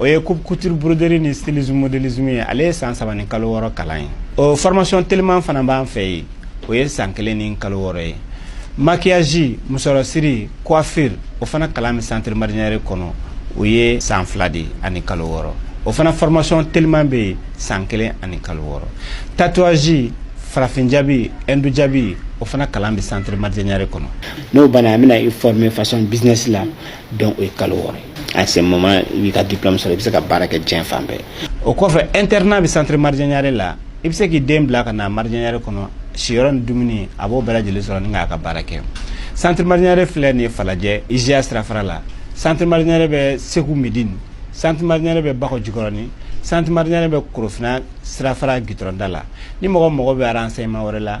o ye coupe couture broderie ni stylisme modélisme ye ale ye san saba ni kalo wɔɔrɔ kalan ye o formation teliman fana b'an fɛ yen o ye san kelen ni kalo wɔɔrɔ ye maquillage musɔrɔsiri coiffure o fana kalan bɛ centre marinière kɔnɔ o ye san fila de ani kalo wɔɔrɔ o fana formation teliman bɛ yen san kelen ani kalo wɔɔrɔ tatouage farafin jabi hindu jabi o fana kalan bɛ centre marinière kɔnɔ n'o banna an bɛna i former façon business la donc o ye kalo wɔɔrɔ ye à ce moment i b'i ka diplôme sɔrɔ i bɛ se ka baara kɛ diɲɛ fan bɛɛ o kɔfɛ internat bɛ centre marjanyare la i bɛ se k'i den bila ka na marjanyare kɔnɔ siyɔrɔ ni dumuni a b'o bɛɛ lajɛlen sɔrɔ ni k'a ka baara kɛ centre marjanyare filɛ nin ye falajɛ IJA sirafara la centre marjanyare bɛ segu medini centre marjanyare bɛ bakɔ jikɔrɔni centre marjanyare bɛ korofina sirafara gitɔrɔn da la ni mɔgɔ mago bɛ renseignement wɛrɛ la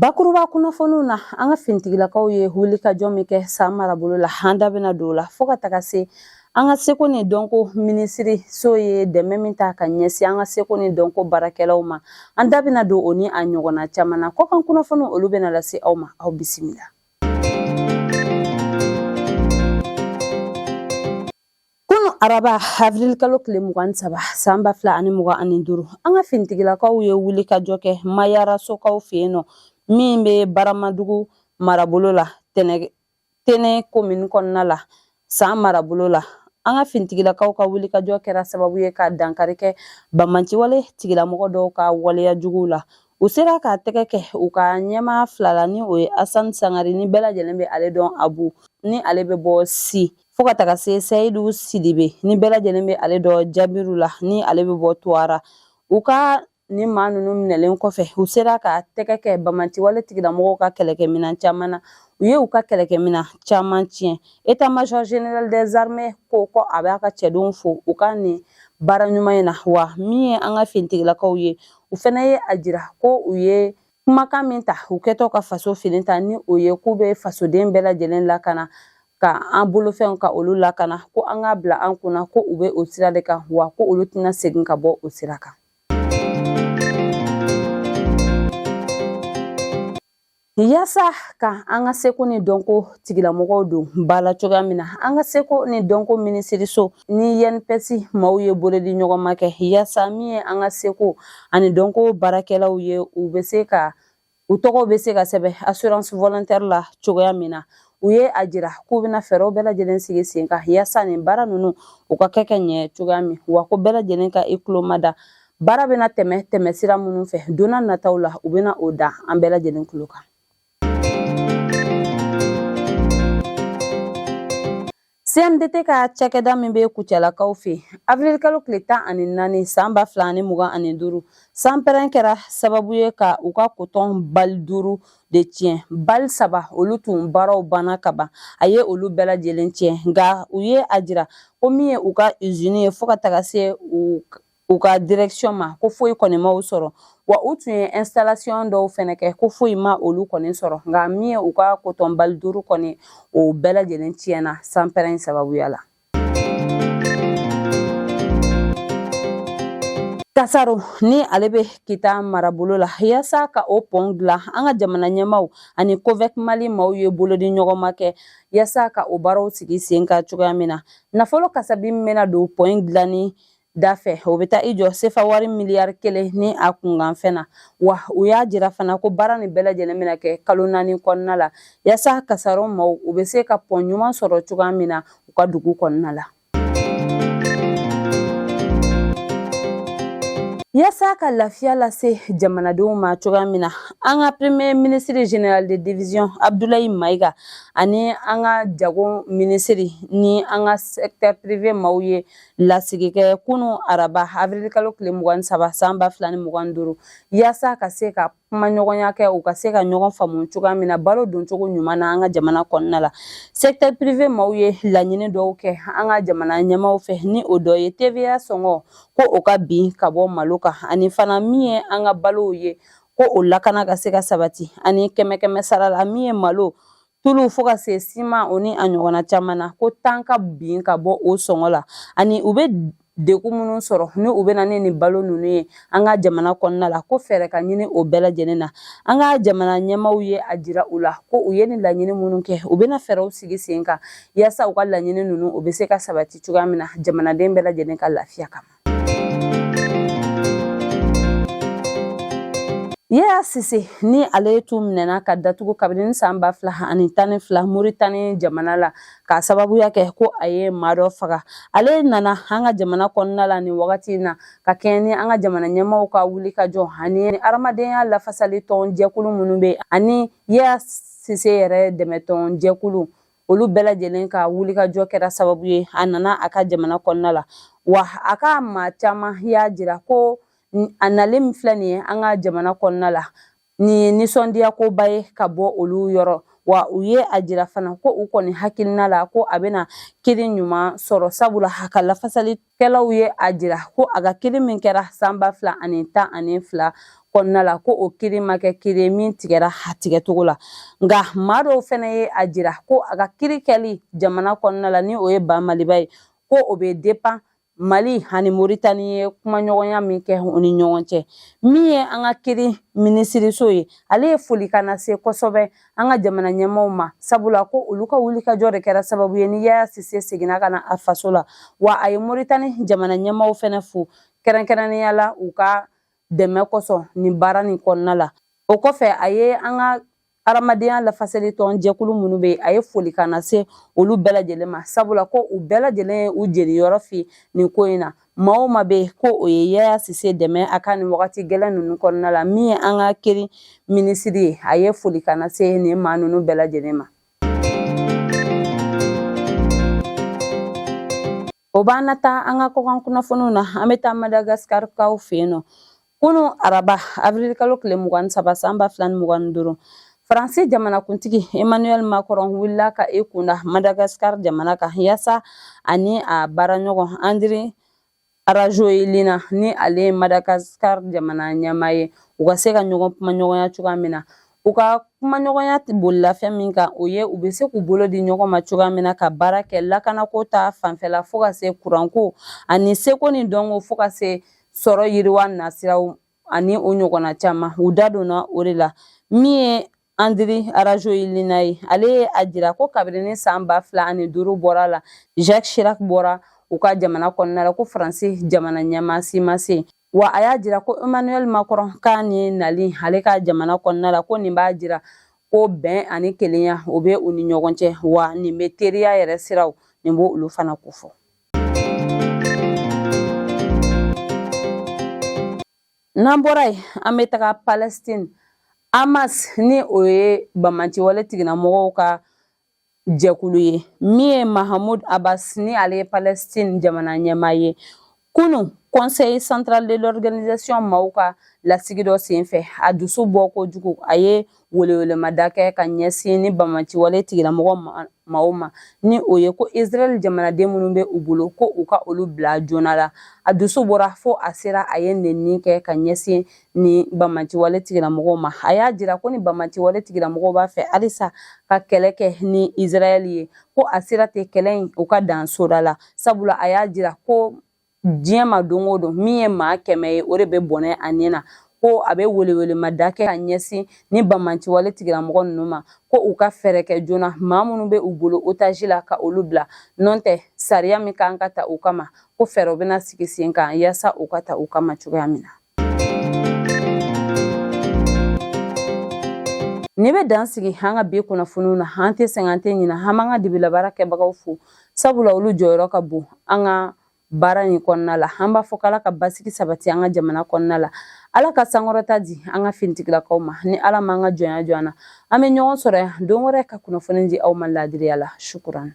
Bakuruba kunnafoniw na an ka fintigilakaw ye wulikajɔ min kɛ san marabolo la an da bɛna don o la fo ka taga se an ka seko ni dɔnko minisiriso ye dɛmɛ min ta ka ɲɛsin an ka seko ni dɔnko baarakɛlaw ma an da bɛna don o ni a ɲɔgɔnna caman na kɔkan kunnafoniw olu bɛna lase aw ma aw bisimila Kunu araba awirili kalo tile mugan ni saba san ba fila ani mugan ani duuru an ka fintigilakaw ye wulikajɔ kɛ mayarasokaw fɛ yen nɔ min bɛ baramadugu marabolo la tɛnɛ komini kɔnɔna la san marabolo la an ka fintigilakaw ka wulikajɔ kɛra sababu ye ka dankari kɛ banbaanciwale tigilamɔgɔ dɔw ka waleya juguw la u sera ka tɛgɛ kɛ u ka ɲɛmaa fila la ni o ye asan sangare ni bɛɛ lajɛlen bɛ ale dɔn abu ni ale bɛ bɔ si fo ka taga se seyidu sidibe ni bɛɛ lajɛlen bɛ ale dɔn jabiru la ni ale bɛ bɔ tuwara u ka nin maa ninnu minɛlen kɔfɛ u sera ka tɛgɛ kɛ banbaanciwale tigilamɔgɔw ka kɛlɛkɛminɛn caman na u ye u ka kɛlɛkɛminɛn caman tiɲɛ état-major général des armées ko ko a b'a ka cɛdenw fo u ka nin baara ɲuman in na wa min ye an ka fintigilakaw ye u fana ye a jira ko u ye kumakan min ta u kɛtɔ ka faso fini ta ni o ye k'u bɛ fasoden bɛɛ lajɛlen lakana ka an bolofɛnw ka olu lakana ko an k'a bila an kunna ko u bɛ o sira de kan wa ko olu tɛna segin ka bɔ o sira kan Yasa ka an ka seko ni dɔnko tigilamɔgɔw don ba la cogoya min na an ka seko ni dɔnko minisiriso ni INPS maaw ye bolodi ɲɔgɔnma kɛ yasa min ye an ka seko ani dɔnko baarakɛlaw ye u bɛ se ka u tɔgɔw bɛ se ka sɛbɛn assurance volontaire la cogoya min na u ye a jira k'u bɛna fɛɛrɛw bɛɛ lajɛlen sigi sen kan yasa nin baara ninnu u ka kɛ ka ɲɛ cogoya min wa ko bɛɛ lajɛlen ka i tulo ma da baara bɛna tɛmɛ tɛmɛ sira minnu fɛ donna nataw la u bɛna o da an bɛɛ lajɛlen tulo kan CMDT ka cakɛda min bɛ Kucalakaw fɛ yen, avril kalo tile tan ani naani san ba fila ani mugan ani duuru, sanpɛrɛn kɛra sababu ye ka u ka kotɔn bali duuru de tiɲɛ. Bali saba olu tun baaraw banna ka ban, a ye olu bɛɛ lajɛlen tiɲɛ, nka u ye a jira ko min ye u ka usine ye fo ka taga se u ka direction ma ko foyi kɔni ma u sɔrɔ wa u tun ye installation dɔw fɛnɛ kɛ ko foyi ma olu kɔni sɔrɔ nka min ye u ka kotɔn bali duuru kɔni o bɛɛ lajɛlen tiɲɛna sanpɛrɛn sababuya la kasaro ni ale bɛ kita marabolo la yasa ka o pɔn dilan an ka jamana ɲɛmaaw ani covec mali maaw ye bolodi ɲɔgɔnma kɛ yasa ka o baaraw sigi sen kan cogoya min na nafolo kasabi min bɛna don pɔn dilanni da fɛ o bɛ taa i jɔ sefa wari miliyari kelen ni a kunkanfɛn na wa u y'a jira fana ko baara nin bɛɛ lajɛlen bɛna kɛ kalo naani kɔnɔna la yasa kasaro maaw u bɛ se ka pɔn ɲuman sɔrɔ cogoya min na u ka dugu kɔnɔna la yasa ka lafiya lase jamanadenw ma cogoya min na an ka premier ministre général de division abdoulaye maiga ani an ka jago minisiri ni an ka secteur privé maaw ye lasigi kɛ kunun araba avril kalo tile mugan saba san ba fila ni mugan duuru yaasa ka se ka kumaɲɔgɔnya kɛ u ka se ka ɲɔgɔn faamu cogoya min na balo doncogo ɲuman na an ka jamana kɔnɔna la secteur privé maaw ye laɲini dɔw kɛ an ka jamana ɲɛmaaw fɛ ni o dɔ ye TVA sɔngɔ ko o ka bin ka bɔ malo kan ani fana min ye an ka balow ye ko o lakana ka se ka sabati ani kɛmɛkɛmɛ sara la min ye malo tulu fo ka se siman o ni a ɲɔgɔnna caman na ko tan ka bin ka bɔ o sɔngɔ la ani u bɛ degun minnu sɔrɔ ni u bɛ na ni nin balo ninnu ye an ka jamana kɔnɔna la ko fɛɛrɛ ka ɲini o bɛɛ lajɛlen na an ka jamana ɲɛmaaw ye a jira u la ko u ye nin laɲini minnu kɛ u bɛna fɛɛrɛw sigi sen kan yaasa u ka laɲini ninnu u bɛ se ka sabati cogoya min na jamanaden bɛɛ lajɛlen ka lafiya kama Yaya Sise ni ale ye tun minɛna ka datugu kabini san ba fila ani tan ni fila Moritani jamana la k'a sababuya kɛ ko a ye maa dɔ faga ale nana an ka jamana kɔnɔna la nin wagati in na ka kɛɲɛ ni an ka jamana ɲɛmaaw ka wulikajɔ ani adamadenya lafasali tɔn jɛkulu minnu bɛ ani Yaya Sise yɛrɛ dɛmɛtɔn jɛkulu olu bɛɛ lajɛlen ka wulikajɔ kɛra sababu ye a nana a ka jamana kɔnɔna la wa a ka maa caman y'a jira ko a nalen min filɛ nin ye an ka jamana kɔnɔna la nin ye nisɔndiya koba ye ka bɔ olu yɔrɔ wa u ye a jira fana ko u kɔni hakilina la ko a bɛna kiri ɲuman sɔrɔ sabula a ka lafasali kɛlaw ye a jira ko a ka kiri min kɛra san ba fila ani tan ani fila kɔnɔna la ko o kiri ma kɛ kiri ye min tigɛra a tigɛcogo la nka maa dɔw fana ye a jira ko a ka kiri kɛli jamana kɔnɔna la ni o ye ba maliba ye ko o bɛ dépend mali ani moritani ye kumaɲɔgɔnya min kɛ u ni ɲɔgɔn cɛ min ye an ka kiri minisiriso ye ale ye folikan lase kosɛbɛ an ka jamana ɲɛmaaw ma sabula ko olu ka wulikajɔ de kɛra sababu ye ni yaya sise seginna ka na a faso la wa a ye moritani jamana ɲɛmaaw fɛnɛ fo kɛrɛnkɛrɛnnenya la u ka dɛmɛ kosɔn nin baara nin kɔnɔna la o kɔfɛ a ye an ka hadamadenya lafasali tɔn jɛkulu minnu bɛ yen a ye folikan lase olu bɛɛ lajɛlen ma sabula ko u bɛɛ lajɛlen ye u jeniyɔrɔ fin nin ko in na maa o maa bɛ ko o ye yaya sise dɛmɛ a ka nin wagati gɛlɛn ninnu kɔnɔna la min ye an ka kiri minisiri ye a ye folikan lase nin maa ninnu bɛɛ lajɛlen ma o b'an na taa an ka kɔkan kunnafoniw na an bɛ taa madagaskarikaw fɛ yen nɔ Kunun araba avril kalo tile mugan ni saba san ba fila ni mugan ni duuru faransi jamanakuntigi emmanuel macron wulila ka i kunda madagascar jamana kan yasa a ni a baaraɲɔgɔn andry rajoelina ni ale ye madagascar jamana ɲɛmaa ye u ka se ka ɲɔgɔn kumaɲɔgɔnya cogoya min na u ka kumaɲɔgɔnya bolila fɛn min kan o ye u bɛ se k'u bolo di ɲɔgɔn ma cogoya min na ka baara kɛ lakanako ta fanfɛla fo ka se kuranko ani seko ni dɔnko fo ka se sɔrɔ yiriwa nasiraw ani o ɲɔgɔnna caman u da donna o de la min ye andry rajoelina ye ale ye a jira ko kabirini san ba fila ani duuru bɔra la jacques chirac bɔra u ka jamana kɔnɔna la ko faransi jamana ɲɛmaa si ma se yen wa a y'a jira ko emmanuel macron ka nin nali ale ka jamana kɔnɔna la ko nin b'a jira ko bɛn ani kelenya o bɛ u ni ɲɔgɔn cɛ wa nin bɛ teriya yɛrɛ siraw nin b'olu fana kofɔ N'an bɔra yen an bɛ taga Palestine Hamas ni o ye bamaci wale tigilamɔgɔw ka jɛkulu ye min ye Mahmoud Abbas ni ale ye Palestine jamana ɲɛmaa ye kunun Conseil central de l'organisation maaw ka lasigi dɔ senfɛ a dusu bɔ kojugu a ye welewelemada kɛ ka ɲɛsin ni banbaanciwale tigilamɔgɔ maaw ma ni o ye ko israɛl jamanaden minnu bɛ u bolo ko u ka olu bila joona la a dusu bɔra fo a sera a ye nenni kɛ ka ɲɛsin ni banbaanciwale tigilamɔgɔw ma a y'a jira ko ni banbaanciwale tigilamɔgɔw b'a fɛ halisa ka kɛlɛ kɛ ni israɛl ye ko a sera tɛ kɛlɛ in u ka dan soda la sabula a y'a jira ko diɲɛ ma don o don min ye maa kɛmɛ ye o de bɛ bɔnɛ a ni na ko a bɛ welewelemada kɛ ka ɲɛsin ni banbaanciwale tigilamɔgɔ ninnu ma ko u ka fɛɛrɛ kɛ joona maa minnu bɛ u bolo otaji la ka olu bila n'o tɛ sariya min kan ka ta u kama ko fɛɛrɛw bɛna sigi sen kan yaasa u ka ta u kama cogoya min na Nin bɛ dan sigi an ka bi kunnafoniw na an tɛ sɛgɛn an tɛ ɲina an b'an ka dibila baara kɛbagaw fo sabula olu jɔyɔrɔ ka bon an ka baara in kɔnɔna la an b'a fɔ k'ala ka basigi sabati an ka jamana kɔnɔna la ala ka sankɔrɔta di an ka finitigilakaw ma ni ala ma an ka jɔnya jɔ an na an bɛ ɲɔgɔn sɔrɔ yan don wɛrɛ ka kunnafoni di aw ma laadiriya la sukuran